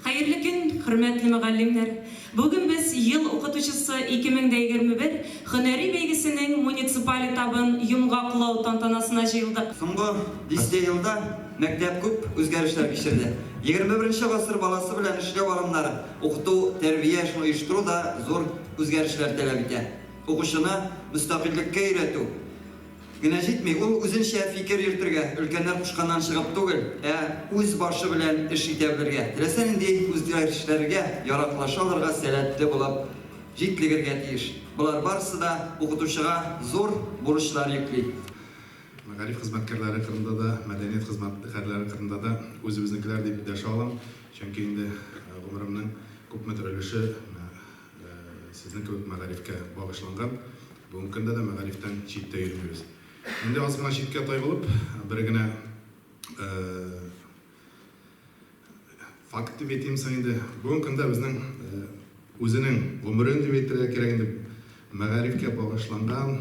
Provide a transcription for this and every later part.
Хәерле көн, хөрмәтле мөгаллимнәр! Бүген без Ел укытучысы 2021 һөнәри бәйгесенең муниципаль этабын йомгаклау тантанасына җыелдык. Соңгы дистә елда мәктәп күп үзгәрешләр кичерде. Егерме беренче гасыр баласы белән эшләү алымнары, укыту, тәрбия эшен оештыру да зур үзгәрешләр таләп итә. Укучыны мөстәкыйльлеккә өйрәтү. Генә җитми, ул үзенчә фикер йөртергә, өлкәннәр кушканнан чыгып түгел, ә үз башы белән эш итә белергә, теләсә нинди үзгәрешләргә яраклаша алырга сәләтле булып җитлегергә тиеш. Болар барысы да укытучыга зур бурычлар йөкли. Мәгариф хезмәткәрләре кырында да, мәдәният хезмәткәрләре кырында да үзебезнекеләр дип дәшә алам, чөнки инде гомеремнең күпмедер өлеше Сезнең кебек мәгарифкә багышланган. Бүгенге көндә дә мәгарифтән читтә йөрмибез. Инде аз гына читкә тайгылып, бер генә факт дип әйтим соң инде. Бүгенге көндә безнең үзенең гомерен дип әйтергә кирәк инде, мәгарифкә багышланган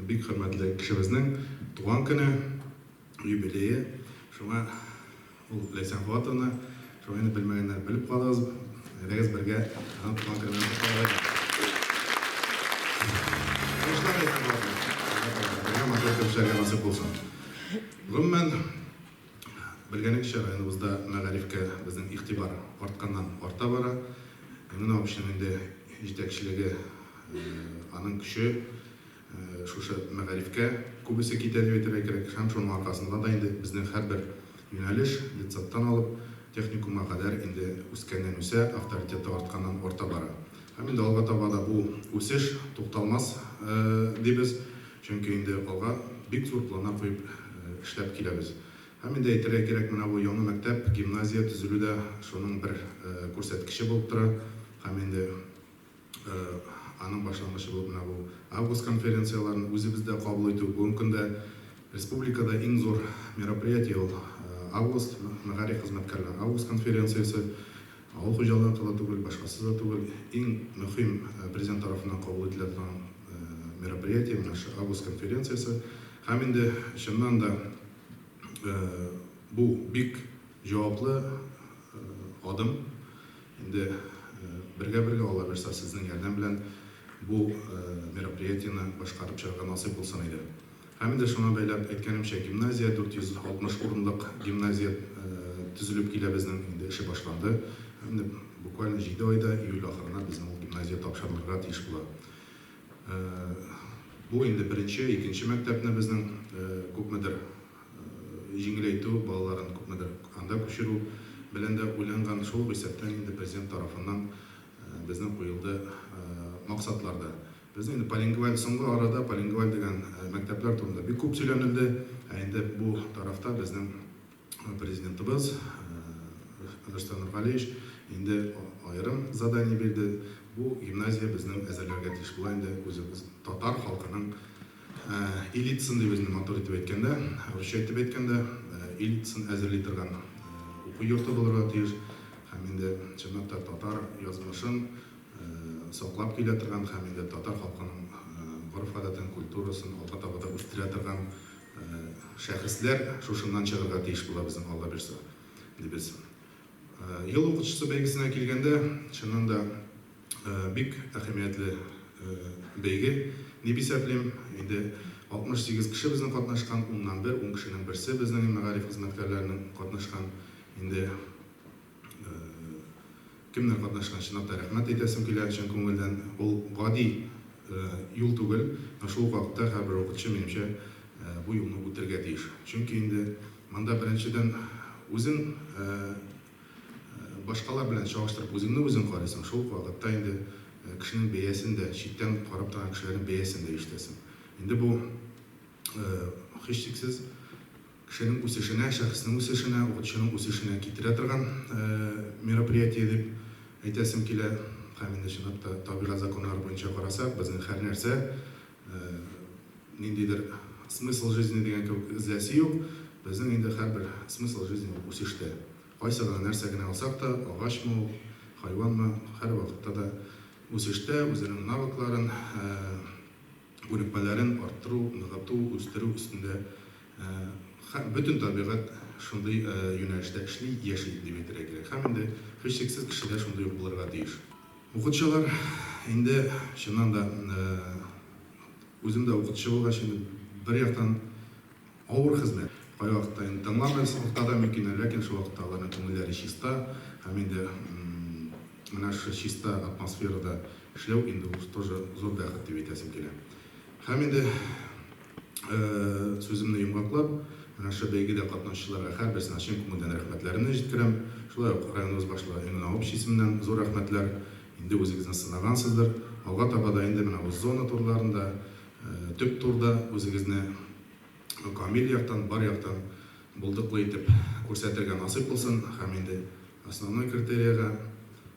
бик хөрмәтле кешебезнең туган көне. Юбилее. Шуңа ул Ләйсән Фоатовна. Шуңа инде белмәгәннәр белеп калыгыз. Әйдәгез бергә аның туган көне белән котланыйк. Уңышлар Ләйсән Фоатовна. Бергә матур итеп эшләргә насыйп булсын. Гомумән, белгәнегезчә, районыбызда мәгарифкә безнең игътибар артканнан арта бара. Менә община инде җитәкчелеге, аның көче. Шушы мәгарифкә күбесе китә дип әйтергә кирәк һәм шуның аркасында да инде безнең һәрбер юнәлеш, детсадтан алып техникумга кадәр инде үскәннән-үсә, авторитеты артканнан арта бара. Һәм инде алга таба да бу үсеш тукталмас дибез, чөнки инде алга бик зур планнар куеп эшләп киләбез. Һәм инде әйтергә кирәк, менә бу яңа мәктәп, гимназия төзелү дә шуның бер күрсәткече булып тора һәм инде Аның башлангычы булып менә бу август конференцияләрен үзебездә кабул итү. Бүгенге көндә республикада иң зур мероприятие ул август, мәгариф хезмәткәрләре август конференциясе. Авыл хуҗалыгыныкы да түгел, башкасы да түгел. Иң мөһим Президент тарафыннан кабул ителә торган мероприятие менә шушы август конференциясе. Һәм инде чыннан да бу бик җаваплы адым. Инде бергә-бергә аллабирса сезнең ярдәм белән бу мероприятиене башкарып чыгарга насыйп булсын иде. Һәм инде шуңа бәйләп әйткәнемчә, гимназия, 460 урынлык гимназия төзелеп килә безнең, инде эше башланды. Менеп буквально җиде айда, июль ахырына безнең ул гимназия тапшырылырга тиеш була. Бу инде беренче, икенче мәктәпне безнең күпмедер җиңеләйтү, балаларын күпмедер анда күчерү белән дә уйланган, шул ук исәптән инде Президент тарафыннан безнең куелды максатлар да. Безнең инде полингваль, соңгы арада полингваль дигән мәктәпләр турында бик күп сөйләнелде, ә инде бу тарафта безнең Президентыбыз Рөстәм Нургалиевич инде аерым задание бирде, бу гимназия безнең әзерләргә тиеш була инде үзебез татар халкының Элитасын дип үзенә матур итеп әйткәндә, русча итеп әйткәндә, элитасын әзерли торган уку йорты булырга тиеш һәм инде чынлап та татар язмышын саклап килә торган һәм инде татар халкының гореф-гадәтен, культурасын алга таба да үстерә торган шәхесләр шушыннан чыгарга тиеш була безнең Алла бирса, дибез. Ел укытучысы бәйгесенә килгәндә, чыннан да, Бик әһәмиятле бәйге дип исәплим. Инде 68 кеше безнең катнашкан, уннан бер, ун кешенең берсе безнең мәгариф хезмәткәрләренең катнашкан. Инде кемнәр катнашкан, чынлап та рәхмәт әйтәсем килә чын күңелдән. Ул гади юл түгел, ә шул ук вакытта һәрбер укытучы, минемчә, бу юлны үтергә тиеш. Чөнки инде монда беренчедән үзең Башкалар белән чагыштырып үзеңне үзең карыйсың, шул ук вакытта инде кешенең бәясен дә, читтән карап торган кешеләрнең бәясен дә ишетәсең. Инде бу, һичшиксез, кешенең үсешенә, шәхеснең үсешенә, укытучының үсешенә китерә торган мероприятие дип әйтәсем килә. Һәм инде чынлап та табигать законнары буенча карасак, безнең һәрнәрсә, ниндидер смысл жизни дигән кебек эзләсе юк, безнең инде һәрбер смысл жизни ул үсештә. Кайсы гына нәрсә генә алсак та, агачмы ул, хайванмы, һәрвакытта да үсештә, үзенең навыкларын, күнекмәләрен арттыру, ныгыту, үстерү өстендә. Һәм бөтен табигать шундый юнәлештә эшли, яши дип әйтергә кирәк. Һәм инде һичшиксез кеше дә шундый ук булырга тиеш. Укытучылар инде чыннан да, үзем дә укытучы булгач инде бер яктан авыр хезмәт. Кайвакытта инде тыңламыйсы уртада мөмкин, ләкин шул вакытта аларның күңелләре чиста һәм инде менә шушы чиста атмосферада эшләү инде ул тоже зур бәхет дип әйтәсем килә. Һәм инде. Сүземне йомгаклап, менә шушы бәйгедә катнашучыларга һәрберсенә чын күңелдән рәхмәтләремне җиткерәм. Шулай ук районыбыз башлыгы Энгнау общий исеменнән зур рәхмәтләр. Инде үзегезне сынагансыздыр. Алга таба да инде менә бу зона турларында, төп турда үзегезне камил яктан, бар яктан булдыклы итеп күрсәтергә насыйп булсын һәм инде основной критериягә,